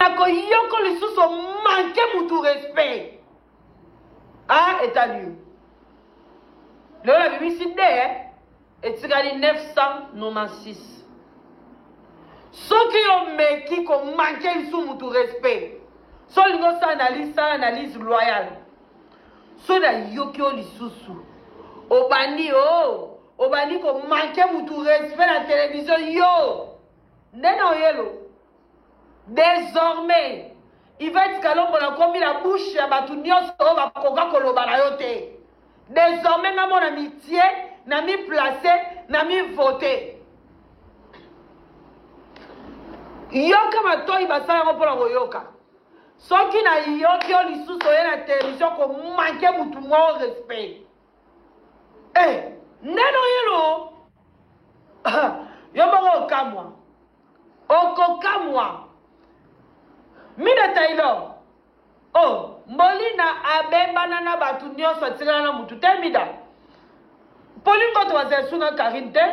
nakoyoko lisusu manke mutu respect a ah, etali yo lelo nabimisi de eh? etikali 996 soki omeki komanke lisu mutu respect so olingi osala analyse sala analyse loyale so nayoki yo lisusu obandi o oh, obandi komanke mutu respect na televizio yo nde na oyelo Desormais, Yvette Kalombo nakomi na bouche ya bato nyonso oyo bakoka koloba na yo te. Desormais nga mona mitie, na mi place, na mi vote. Yoka matoi basala yango mpo na koyoka. soki nayoki yo lisusu oye na television komanke motu moko respect Eh, ndeno yelo yo moko okamwa okokamwa mine taylor o oh, mbolina abebana na bato nyonso atikala na motu te mida mpo lingoto bazali sunga karine te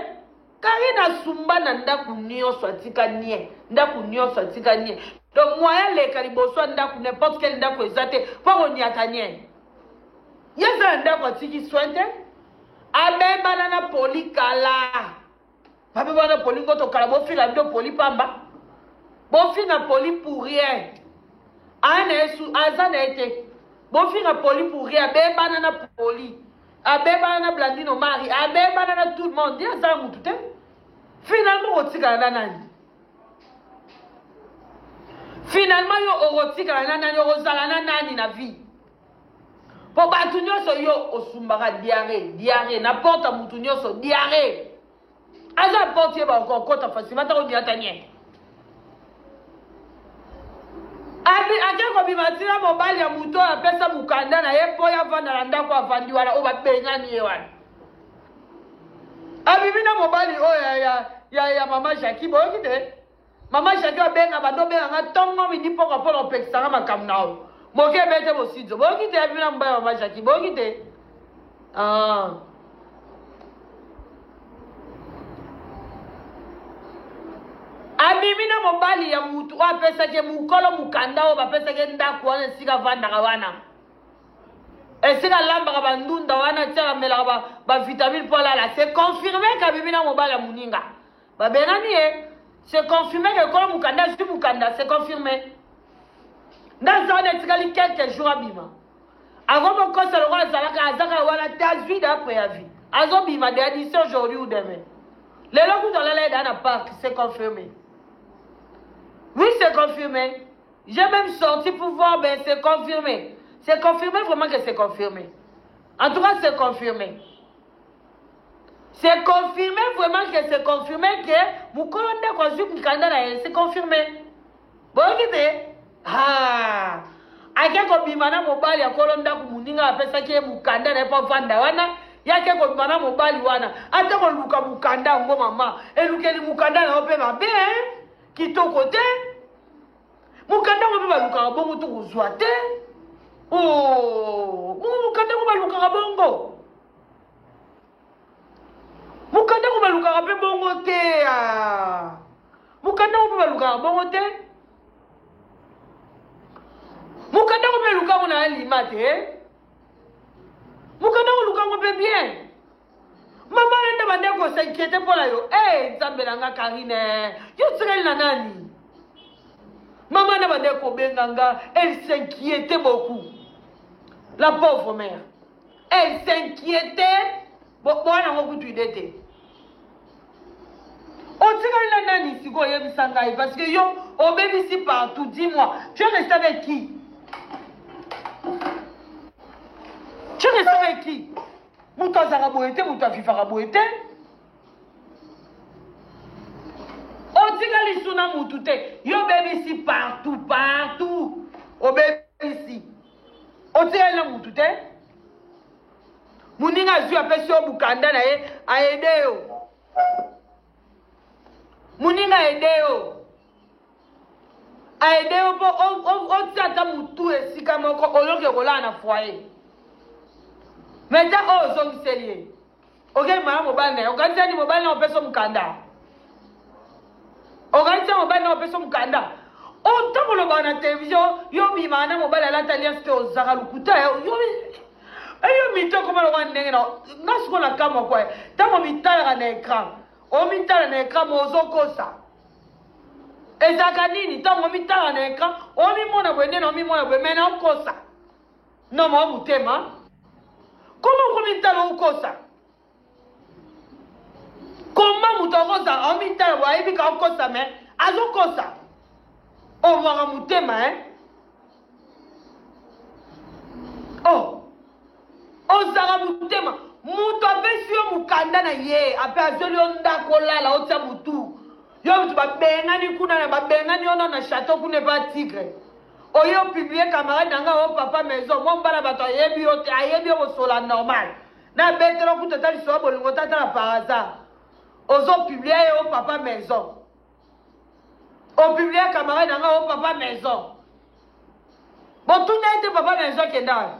Karine asumba na ndako nyonso atika nie ndako nyonso atika nie donc moya leka liboso ya ndako n'importe quel ndako eza te mpo konyata nie ye eza na ndako atiki soin te abebana na poli kala babebana na poli ngoto kala bofila bido poli pamba bofina poli pour rien aza na ye te bofinga poli puri abebana na poli abebana na blandino mari abebana na tout le monde ye aza mutu te finalement okotikala na nani finalement yo okotikala na nani okozala na nani na vie mpo bato nyonso yo osumbaka diare diare na porta motu nyonso diare aza porte ye bako okota fasi bata kobiata nye ake kobima ntina mobali ya moto oyo apesa mokanda na ye mpo yavanda na ndako avandi wana oyo babengani ye wana abimi na mobali oyo ya, ya, ya, ya mama jaki boyoki te Mama Jacqueline abenga bando benga nga tongo midi poko mpo na kopekisa nga makambo na yo. Moke ebete bosidzo. Boyoki te ya bino mbaya mama Jacqueline. Boyoki te. Ah. abimi na mobali ya mutu oyo apesaki mokolo mokanda oyo bapesaki ndako wana esika avandaka wana esika alambaka bandunda wana ti alamelaka bavitamine mpo alala se confirme kabimi na mobali ya moninga Babengani ye, c'est confirmé que Kolo Mukanda azwi mukanda, c'est confirmé. Ndaza wana etikali quelques jours abima. Akomo kosa lokola azalaka azaka wana te azwi da préavis. Azobima de d'ici aujourd'hui ou demain. Lelo kutu alala ye da na parc, c'est confirmé. Oui, c'est confirmé. J'ai même sorti pour voir, mais c'est confirmé. C'est confirmé vraiment que c'est confirmé. En tout cas, c'est confirmé. C'est confirmé vraiment que c'est confirmé que mukolo ndako azwi mukanda na ye c'est confirmé boyoki te ah. ake kobima na mobali ya kolo ndako moninga apesaki ye mukanda na ye mpo avanda wana ye ake kobima na mobali wana ata koluka mukanda yango mama elukeli mukanda na yo mpe mabe kitoko te mukanda yango mpe balukaka bongo tokozwa te oh, mukanda yango balukaka bongo mokanda yango balukaka mpe bongo te ah. mokanda yango mpe balukaka bongo te mokanda yango mpe lukango na alima te eh. mokanda yango lukango mpe bien mama nende bande kosinkiete mpo na yo e eh, nzambe na nga karine eh. yo tikali na nani mama nde bande kobenga nga elle s'inquiete beaucoup la pauvre mère elle s'inquiétait boa nango kutu ide te otikali na nani sikoyo oyebisa ngai parce que yo obebisi partout dis moi tu es resté avec qui tu es resté avec qui moto azalaka boye te moto afifaka boye te otikali suna motu te yo obebisi partout partout obebisi otikali na mutu te moninga azwi apesi yo mokanda na ye aede yo moninga aede yo aede yo mpo otia ata motu esika moko oyoki okolala na foyer me ta oyo ozongiseli ye okeyi mama mobali na ye okanisi ani mobali na opesa mokanda okanisi ya mobali na opesa mokanda otango olobaka na televizio yo obimaka na mobali alata alias te ozaka lokuta eyo mito ekoma lokola ndenge na nga siko na kamwa kwa ntango omitalaka na ekran omitala na ekran mo ozokosa ezalaka nini ntango omitalaka na ekran omimona boye nde na omimona boye me na okosa na mwa motema koma okomitala okosa koma moto akosa omitala bo ayebi ka okosa me azokosa omwaka motema e o oh. ozala motema moto apesi yo mokanda na ye ape azweli yo ndako olala otya motu yo moto babengani kuna na babengani yo na na chateau kuna epa tigre oye opiblie camarade na ngai o papa maison mwa mbala bato ayebi yo te ayebi yo kosola normal nabetela kutu ata lisoba bolingo te atala par hasard ozopiblie ye o papa maison opiblie camarade na ngai o papa maison botuna ye te papa maison akenda wapi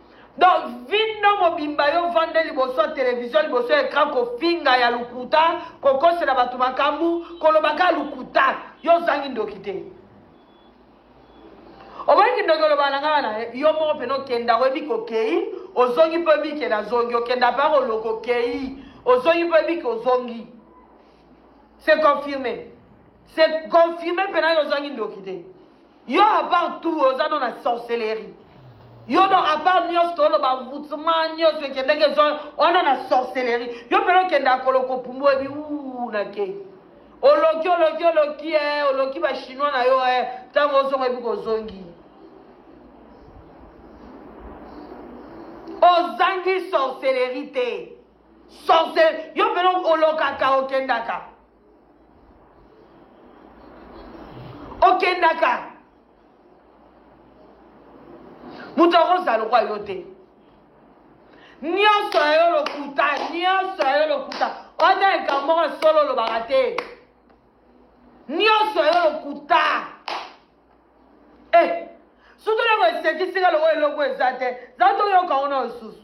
donc vindo mobimba yo vande liboso ya televizio liboso ya ekran kofinga ya lokuta kokosela bato makambo kolobaka lokuta yo ozangi ndoki te oboyiki ndoki oloba na ngai wana yo moko mpena okenda oyebi kokei ozongi mpo oyebi ke nazongi okenda mpe akoloko okei ozongi mpo oyebi ke ozongi se confirme se confirme mpena yo ozangi ndoki te Yo à part tout oza no na sorcellerie. Yo no à part nyos tolo ba vutsuma nyos ekendeke zo ona na sorcellerie. Yo pelo kenda koloko pumbo ebi u na ke. Oloki oloki oloki eh oloki ba chinois na yo eh tango ozonga ebi kozongi. ozangi sorcellerie te sorcel yo mpena olokaka okendaka okendaka moto akozala lokwa yo te nyonso ya yo lokuta nyonso ya yo lokuta ota likambo moko solo olobaka te nyonso ya yo lokuta eh, soki oloko esekisika lokola eloko eza te za toyoka ona lisusu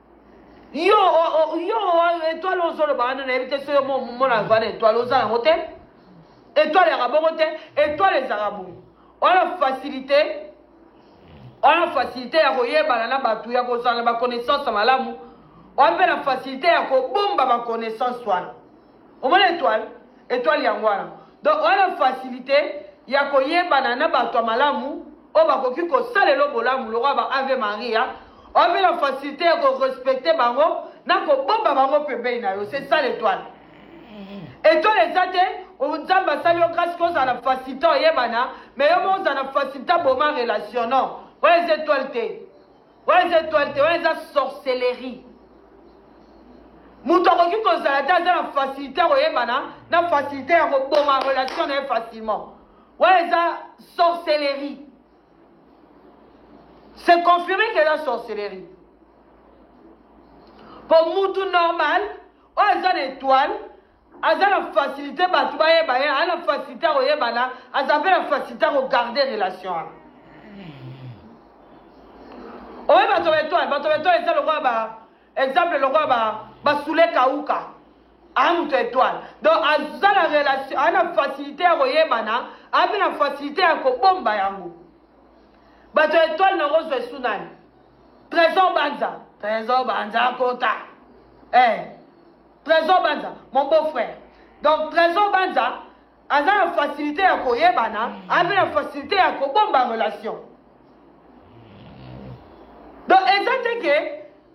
yo yo etoile ozoloba wana nayebi te soki omona vana etoile oza yango te etoile yaka bongo te etoile ezalaka bongo wana facilité wana facilité ya koyebana na bato ya kozala na baconnaissance malamu wana mpe na facilité ya kobomba baconnaissance wana omona etoile etoile yango wana donc oya na facilité ya koyebana na bato ya malamu oyo bakoki kosalela bolamu lokola ba ave maria oya mpe na facilité ya korespecte bango na kobomba bango pembeni na yo c'est ça l'étoile mm-hmm. étoile eza te nzambe asali yo grâce kozala na facilité oyebana mais yo mo ozala na facilité aboma relation non oyo eza étoile te Wana eza etoile te, wana eza sorcellerie. moto akoki kozala te aza na facilité ya koyebana na facilité ya koboma relation na ye facilement wana eza sorcellerie c'est confirmé que eza sorcellerie mpo mutu normal oyo aza na étoile aza na facilité bato bayeba ye ana facilité ya koyebana aza mpe na facilité ya kogarde relation wana oye bato betoile bato betoile eza lokola ba exemple lokola ba basule kauka aa moto etoile donc aza na relation aa na facilité ya koyebana aa mpe na facilité ya kobomba yango bato etoile nango ozwa esu nani trésor banza trésor banza akota eh. Trésor Banza, mon beau-frère. Donc Trésor Banza aza na facilité ya koyebana, aza na facilité ya kobomba relation. Donc eza te ke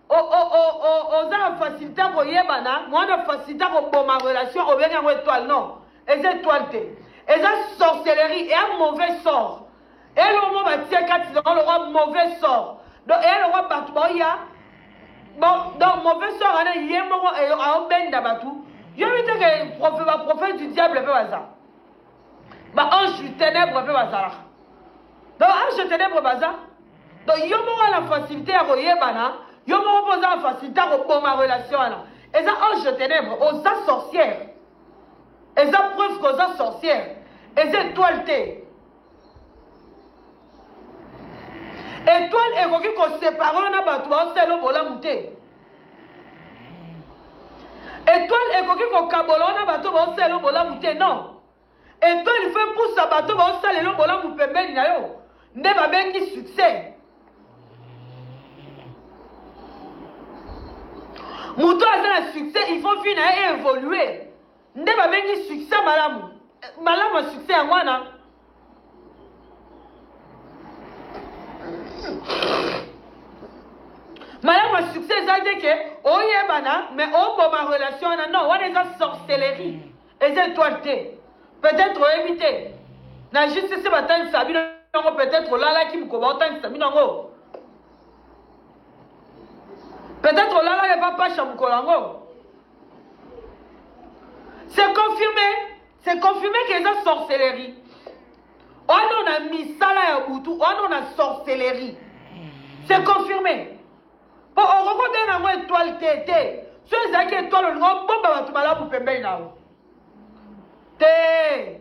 oza na facilité ya koyebana, mwana facilité ya koboma relation obengi yango étoile non. Eza étoile te. Eza sorcellerie et un mauvais sort. elongo batie kati na yango lokwa mauvais sort donc eya lokwa bato baoya donc mauvais sort wana ye moko aobenda bato yobi te ke baprophète du diable mpe baza baange du ténèbre mpe bazalaka donc ange du ténèbre baza donc yo moko na facilité ya koyebana yo moko mpo oza na facilité ya koboma relation wana eza ange du ténèbre oza sorcière eza preuve koza sorcière eza étoile te etoile ekoki kosepare yo na bato baosala bolamu te etoile ekoki kokabola yo na bato baosala bolamu te non etoile fo epusa bato baosala elo bolamu pembeni na yo nde babengi succès moto aza na succès il faut vi na ye evolue nde babengi succès malamu malamu ya succès yango wana malamu ya succès eza te ke oyebana mais oboma relation wana non wana eza sorcellerie eza étoile te peut-être oyebi te na justisi batangisa bino yango peut-être olalaki mokoba otangisa bino yango peut-être olalaki epa pasha mokolo yango c'est confirmé c'est confirmé que eza sorcellerie ono na misala ya butu ono na sorcellerie c'est confirmé mpo okoki kobenga yango étoile te te so ezalaki étoile olingi obomba bato malamu pembeni na yo te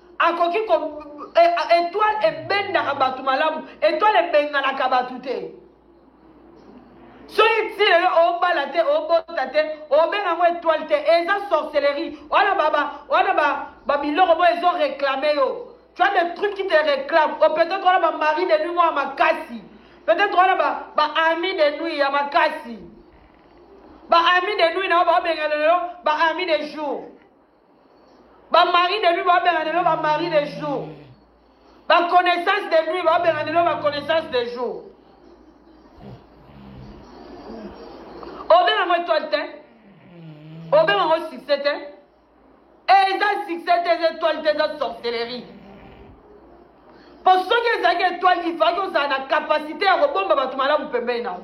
akoki ko e, etoile ebendaka bato malamu etoile ebenganaka bato te soki ti lelo obala te obota te obenga yango etoile te eza sorcellerie wana baba wana ba babiloko boyo ezo reklame yo tu as des trucs qui te réclament o oh, peut-être wana bamari de nuit mwa makasi peut-être wana baami de nuit ya makasi baami de nuit na yo baobengana lelo baami de jour Ba mari de nuit ba benga lelo ba mari de jour. Ba connaissance de nuit ba benga lelo ba connaissance de jour. Obenga ngo étoile te. Obenga ngo succès te. Et eza succès te eza étoile te eza sorcellerie. Po soki ezalaki étoile il fallait ozala na capacité ya kobomba bato malamu pembeni na yo.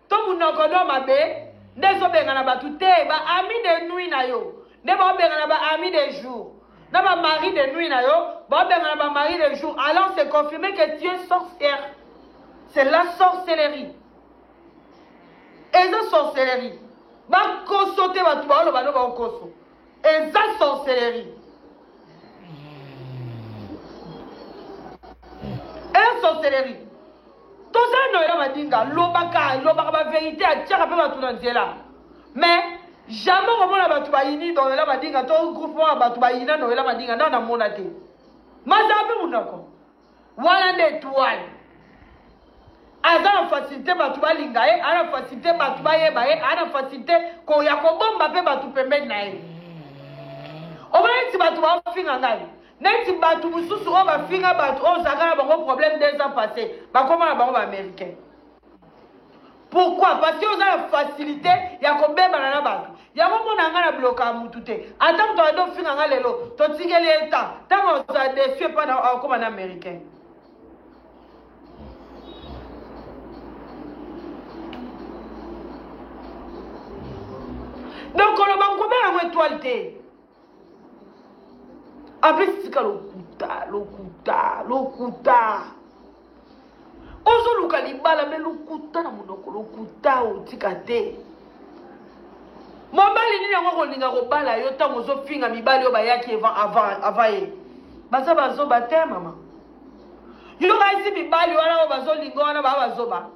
to munoko do mabe nde ezobengana bato te ba ami de nuit na yo nde baobengana ba ami de jour na ba mari de nuit na yo baobengana ba mari de jour alors c'est confirmé que tu es sorcière c'est la sorcellerie eza sorcellerie bakoso te bato baoloba no baokoso Eza sorcellerie. Eza sorcellerie. toza noela madinga lobaka lobaka baverité atiaka mpe bato na nzela mais jamais okomona bato bayini noela madinga to groupement ya bato bayina noela madinga nao namona te mazala mpe monoko wana nde etoile aza na facilité bato balinga ye ana facilité bato bayeba ye ana facilité koya kobomba mpe bato pembeni na ye omona neti bato bafinga ngai neti bato mosusu oyo bafinga bato oyo ozalaka na bango problème deux ans passé bakoma na bango baaméricain pourquoi parce que oza na facilité ya kobebana na bato yango mpo na ngai na bloka ya motu te ata moto abandi ofinga ngai lelo totikeli ye ntan ntango ozala desu epai na akokoma na américain donc koloba nkobela yango etoile te En plus, tika lokuta, lokuta, lokuta. ozoluka libala me lokuta na monoko lokuta otika te mobali nini yango kolinga kobala yo ntango ozofinga mibali oyo bayaki avant ye baza bazoba te mama yo kasi mibali wana oyo bazolinga wana baa bazoba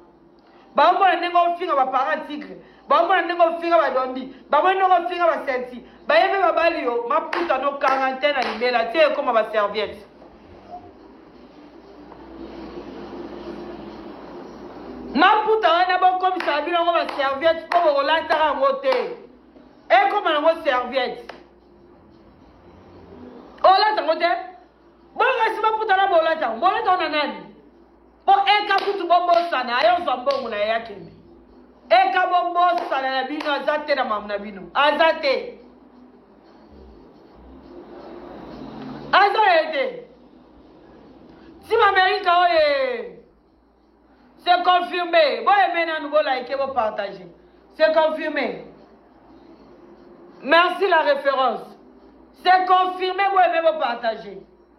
baomona ndenge ofinga ba parent tigre baomona ndenge ofinga ba dondi bamoni ndenge ofinga ba senti baye mpe babali yo maputa no quarantaine na libela te ekoma ba serviette maputa wana bokomisaka bino yango ba serviette mpo bokolataka yango te ekoma yango serviette olata yango te boyo kasi maputa na bolata yango bolata yango na nani po eka kutu bobosana aye ozwa mbongo na ye akende eka bobosana na bino aza te na mamu na bino aza te aza ye te tim amerika oye se confirme boyeme nanu bolaike bopartage se confirme merci la référence se confirme boyeme bopartage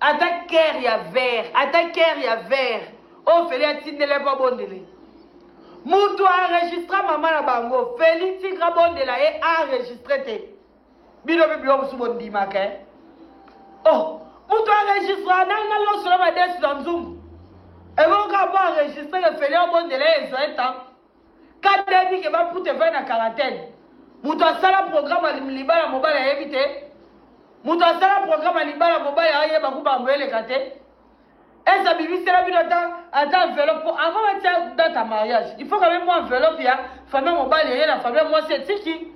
Ata cœur ya vert, ata cœur ya vert. Oyo Feli atindele mpo abondele. Mutu a enregistra mama na bango. Feli tigre abondela ye a enregistre te. Bino mpe biloko mosusu bondimaka. Eh? Oh, mutu a enregistra nani na loso na madesu na nzungu. Ebongo kaka mpo enregistre ke Feli abondela ye ezoe temps. kati ayebi ke baputa evai na quarantaine moto asala programe ya libala mobali ayebi te moto asala programe ya libala mobali ayeba ku bambo eleka te ese abimisela bino ata ata enveloppe mpo avant batia date ya mariage il faut quand même mwa enveloppe ya famille mobali eye na famille mwasi etiki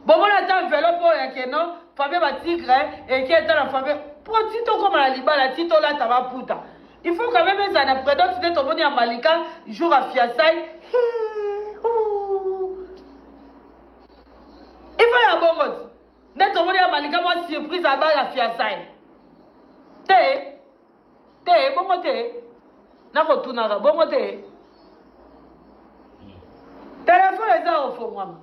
bomona ata envelope oyo ya keno famille ba tigre eki ata na famille mpo ti tokóma na libala ti tolata baputa il faut quand même ezala na predote nde tomoni ya malika jour ya fiasai ifa ya bongo ti nde tomoni ya malika mwa surprise abala fiasai te te bongo te nakotunaka bongo te telefone eza kofongwama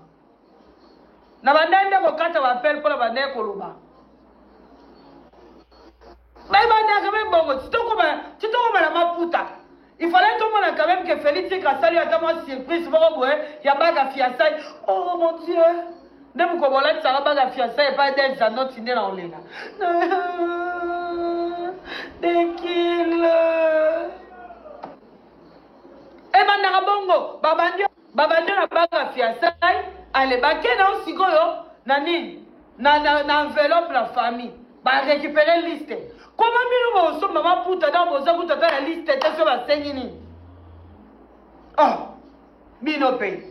na bandai nde kokata bapele mpo na bandai koloba bayebandaka me bongo titokoma na maputa Il fallait tomona quand même que Felix Tshisekedi asali yo ata mwa surprise moko boye ya baga fiançailles. Oh mon Dieu! Nde mokolo bolatisaka baga fiançailles epai Del Zanotti nde na olela. Dekile. Ebandaka bongo babandi Ba bande na banga fiasailles ale ba ke na sikoyo na nini na na, na enveloppe na famille ba récupérer liste koma bino ba osomba ba puta na boza kuta ta la liste te so ba sengi nini oh bino pe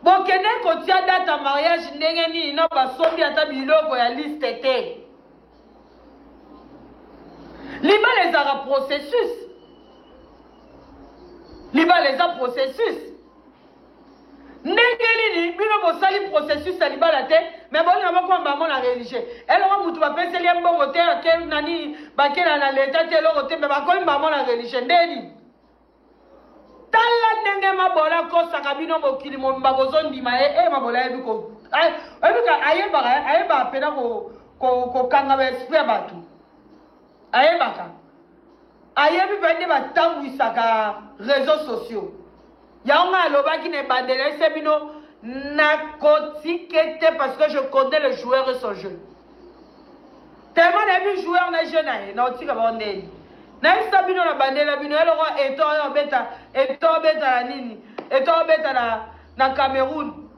bokende kotia data mariage ndenge nini na basombi ata biloko ya liste te libala ezalaka processus libala eza processus ndenge nini bino bosali processus ya libala te me bolinga bokomba yango na religieux eloko motu bapeseli ye mbongo te ake nani bakela na leta te eloko te me bakomba yango na religieux ndeni tala ndenge mabola akosaka bino mokili mobimba bozondima ye e mabola ayebi ko oyebika ayebaka ayebaka mpena kokanga baesprit ya bato ayebaka ayebi mpe nde batambwisaka réseau sociaux yango ngai alobaki na ebandela ese bino nakotika te parce que je connais le joueur et son jeu tellement nayebi joueur na jeu na ye na otika bango ndeni nayebisa bino na bandela bino ye loko eto oyo obeta eto obeta na nini eto obeta na, na cameroun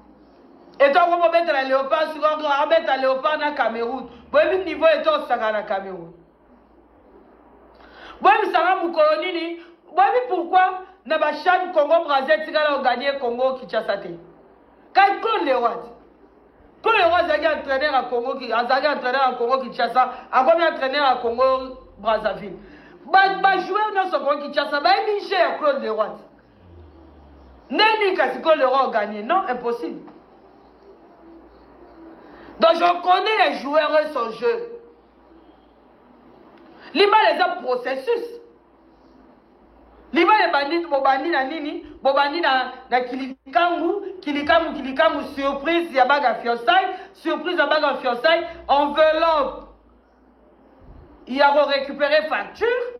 eto akomi obeta na leopard sikoyo abeta leopard na cameroun boyebi niveau eto osaka na cameroun boyebisanga mokolo nini boyebi pourquoi na bashane congo braza etikala oganie congo kinshasa te kai claude lewati claude lewati azalaki entraîneur ya congo azalaki entraîneur ya congo kinshasa akomi entraîneur ya congo brazzaville bajoueur nyonso congo kinshasa bayebi jeu ya claude lewati ndeni kasi claude lewati oganie non impossible donc je connais les joueurs et son jeu libala eza processus libala ebandi bobandi na nini bobandi na, na kilikangu kilikangu kilikangu surprise ya baga fiançaille surprise ya baga fiançaille enveloppe ya korécupérer facture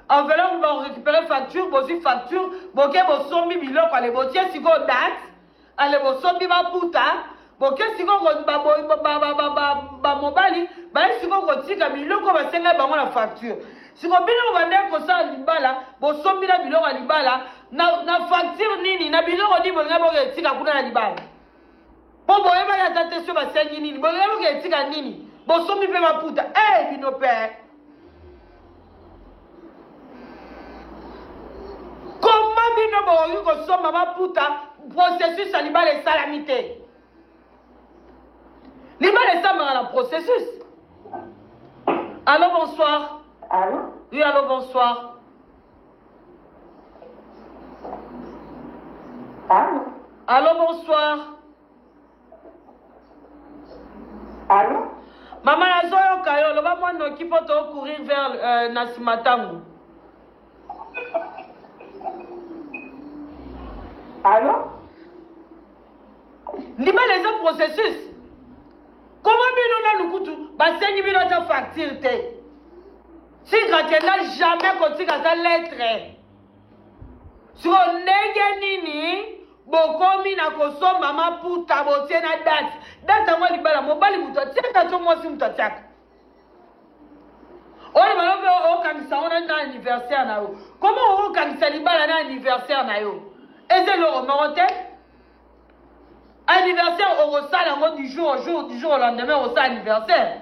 enveloppe bakorécupérer facture bozwi facture boke bosombi biloko ale botie sikoyo date ale bosombi maputa boke sikoyo bamobali baye sikoyo kotika biloko basengai bango na facture sikoyo bino bobandaki kosala libala bosombi na biloko ya libala na facture nini na biloko nini bolingai boke etika kuna na libala mpo boyebaki ata te so basengi nini bolingai boke etika nini bosombi mpe maputa e eh, bino mpe bino bokoki kosomba baputa processus ya libala esalami te libala esambaka na processus allo bonsoir allo oui allo bonsoir allo allo bonsoir Allô? Mama nazoyoka yo loba mwa noki mpo to courir vers euh, na nsima ntango. Allô? Libala eza processus. Koma bino nanu kutu basengi bino ata facture te. Tika kenda jamais kotika ata lettre. Siko ndenge nini bokomi na kosomba maputa botie na date date yango libala mobali moto atiaka to mwasi moto atiaka oyo balobi okangisa yango na anniversaire na yo koma okangisa libala na anniversaire na yo eza eloko moko te anniversaire okosala yango du jour au jour du jour au lendemain okosala anniversaire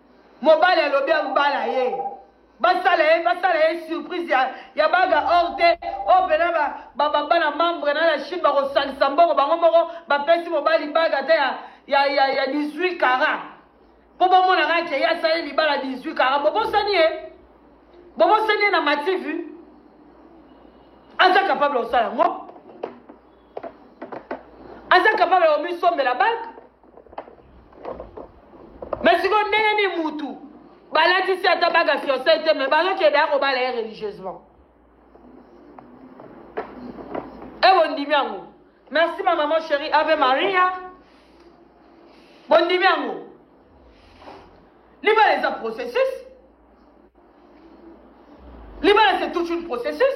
mobali alobi abala ye basala ye basala ye surprise ya, ya baga or te oyo mpena babana membre na la chine bakosangisa mbongo bango moko bapesi mobali baga ata ya, ya, ya, ya 18 kara mpo bomonaka ke ye asali libala 18 kara bobosani ye bobosani ye na mativu aza capable kosala yango aza capable ya komisombela bak me sikoyo ndenge ni mutu balatisi ata baka fiancai te me bazokende ya kobala ye religieusement e bondimi yango merci ma maman chérie ave maria bondimi yango libala eza processus libala c'est toute une processus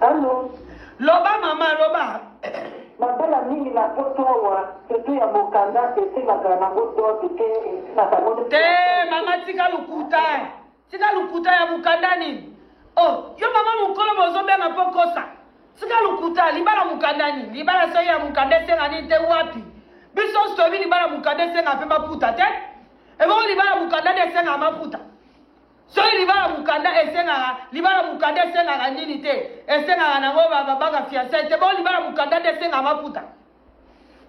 Allo. Loba mama loba. Mabala mingi na poto awa surtout ya mokanda esimaka nango dote te esimaka ngo te mama tika lokuta tika lokuta ya mokanda nini o oh, yo mama mokolo bozobenga mpo kosa tika lokuta libala mokanda nini libala soi ya mokanda esenga nini te wapi biso nyonso toyebi libala mokanda esenga mpe maputa te ebongo libala mokanda nde esenga maputa Soki libala mukanda esengaka libala mukanda esengaka nini te esengaka nango babanga fiançai te bo libala mukanda nde esengaka maputa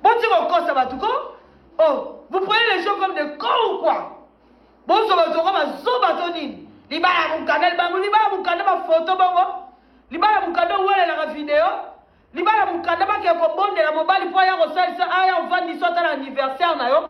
boti kokosa bato ko oh vous prenez les gens comme des cons ou quoi bozo bato ko bazoba to nini libala mukanda libango libala mukanda bafoto bongo libala mukanda owelelaka video libala mukanda bakee kobondela mobali mpo aya kosalisa aya ovandisa ata na anniversaire na yo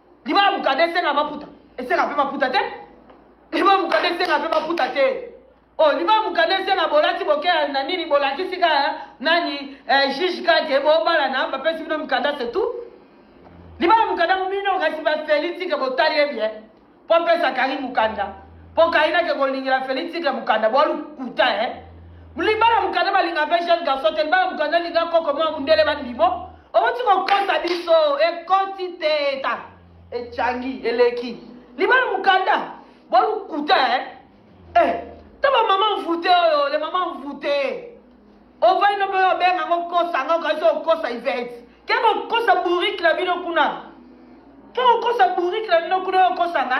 libala mukada esenga maputa esenga mpe maputa te libala mukada esenga mpe maputa te o oh, libala mukada esenga bolati bokeya na nini bolakisi ka eh, nani eh, juge kake bobalana bapesi bino mukanda se tout libala mukanda mobino kasi bafeli tike botali ye bien mpo mpesa kari mukanda mpo kari nake kolingela feli tike mukanda bolukuta e eh. libala mukanda balinga mpe jeune garçon te libala mukanda linga koko mwa mundele bandimo Owuti kokosa biso ekoti te eta echangi eleki libala mukanda bolukuta eh eh ta ba maman voute oyo le maman voute ovai no mpe obenga ngo kosa ngo kasi okosa ivete ke kokosa bourrique na bino kuna ke kokosa bourrique na bino kuna okosa nga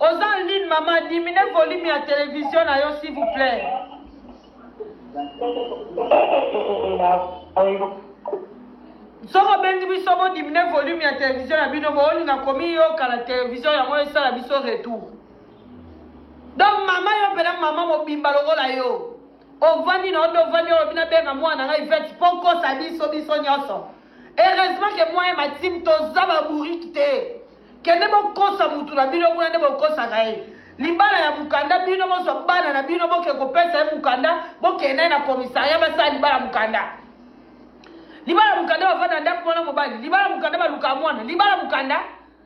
oza en ligne mama dimine volume ya televizio na yo s'il vous plaît soki obengi biso bodimine volume ya televizio na bino boolinga komiyoka na televizio yango esala biso retour donc mama yo mpena mama mobimba lokola yo ovandi na yo nde ovandi olobi nabenga mwana ngai vete mpo okosa biso biso nyonso Heureusement que moi et ma team toza ba bourrique te. Kende bokosa mutu na bino kuna nde bokosaka ye. libala ya mokanda bino bozwa bana na bino boke kopesa ye mokanda bokende naye na commissariat basala libala mokanda libala mokanda bavanda ndako mwana mobali libala mokanda baluka mwana libala mokanda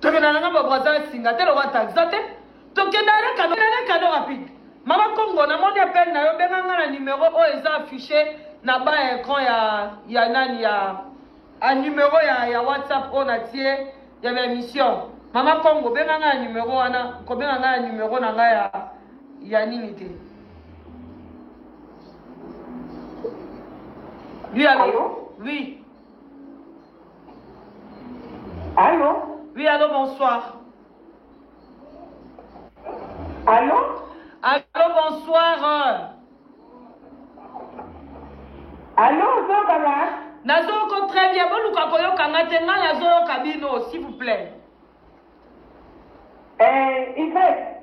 tokenda nanga babo aza asinga te lokola taxa te tokenda na kado na kado rapide mama kongo namoni appel na yo benga nga na numero oyo eza affiche na ba ecran ya ya nani ya a numero ya ya whatsapp oyo natie ya baémission mama kongo benga nga na numero wana kobenga nga na numero na nga ya ya nini te lui alo oui Allô Oui, allô, bonsoir. Allô Allô, bonsoir. Allô, Zobala Nazoko très bien, boluka koyoka nga te nga nazoyoka bino, s'il vous plaît. Eh, Yvette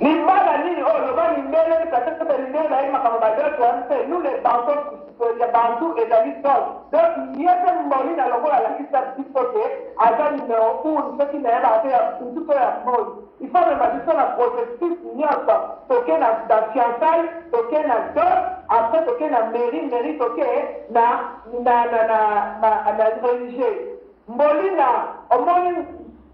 Libala nini oyo loba mindele peut-être que mindele bayebi makambo ba dot wana te nous les bantos ya bantu ezali dot donc ye mpe mboli na lokola alakisa biso ke aza numero un soki nayebaka te ya kutu to ya mboli il faut mema biso na processus nyonso toke na na fiançaille toke na dot après toke na mairie mairie toke na na na na na religieux mbolina omoni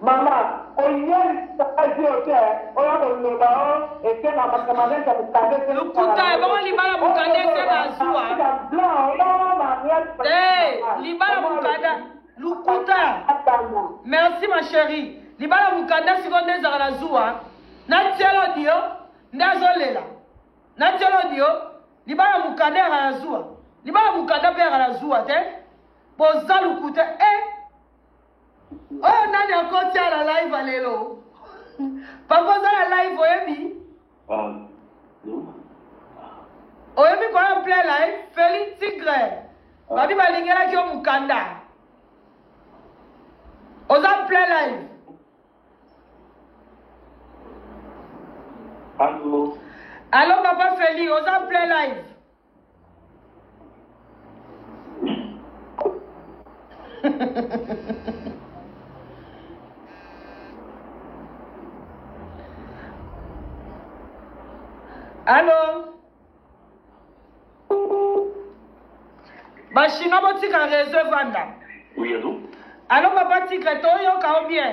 Maman oyebisa azio te oya koloba o esenga makamane ya mokanda ese lokuta ebongo libala mokanda ese bazua libala mokanda lokuta merci ma chérie libala mokanda sikoyo nde ezalaka na zuwa na tielo dio nde azolela na tielo dio libala mokanda yaka na zuwa libala mokanda mpe yaka na zuwa te boza lokuta e eh? oyo nani akoti a la live ya lelo papa oza na live oyebi oyebi koya plein live feli tigre babi balingelaki yo mokanda oza plein live alo papa feli oza plein live Allô bachinois botika réseau evanda oui, allô papa tikre toyoka o bien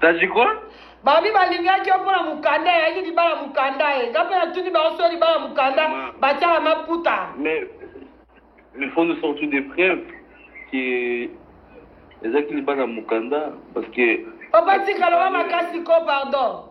tajikwa babi balingaki yo mpona mokanda eyaki libala mokanda ye nga mpe natuni bango so libala mokanda batyaka maputa mais mais faut nous sortir des preuves que ezalaki libala mokanda parce que papa tikaloba makasi ko pardon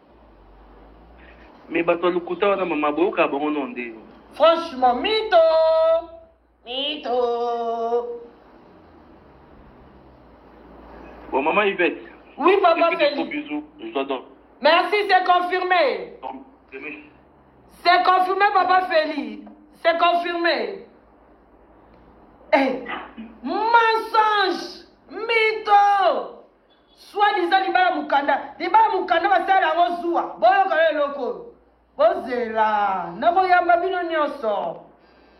Mais bato ya lokuta wana mama boyoka bango no nde. Franchement mito mito. Bon maman Yvette. Oui papa Feli. Bisous, je dois dormir. Merci, c'est confirmé. C'est confirmé papa Feli. C'est confirmé. Eh, mensonge, mytho. Soit disant libala mukanda, libala mukanda basala yango zuwa. Boyoka yo eloko oyo. Bozela, nakoyamba bino nyonso.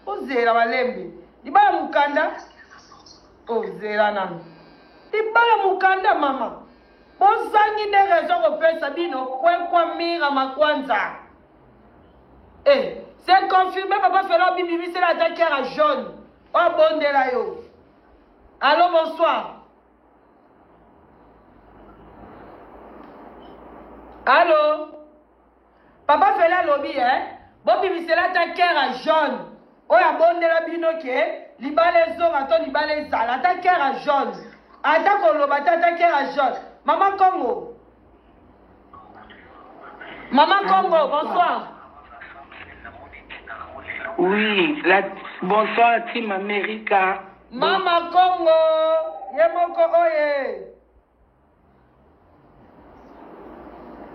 Bozela balembe. Libala mukanda, ozela nanu. Libala mukanda mama. Bozangi nde rezo kopesa bino kwekwa mira makwanza. Eh, c'est confirmé papa Fela obibimisela ata kiara jaune. Obondela yo. Allô, bonsoir. allo papa fela alobi e eh? bobimisela ata kere ya jaune oyo abondela bino ke libala ezonga to libala ezala ata kere ya jaune ata koloba te ata kere ya jaune mama kongo Maman Congo, bonsoir. Oui, la... bonsoir Team America. Mama Congo, Yemoko Oye.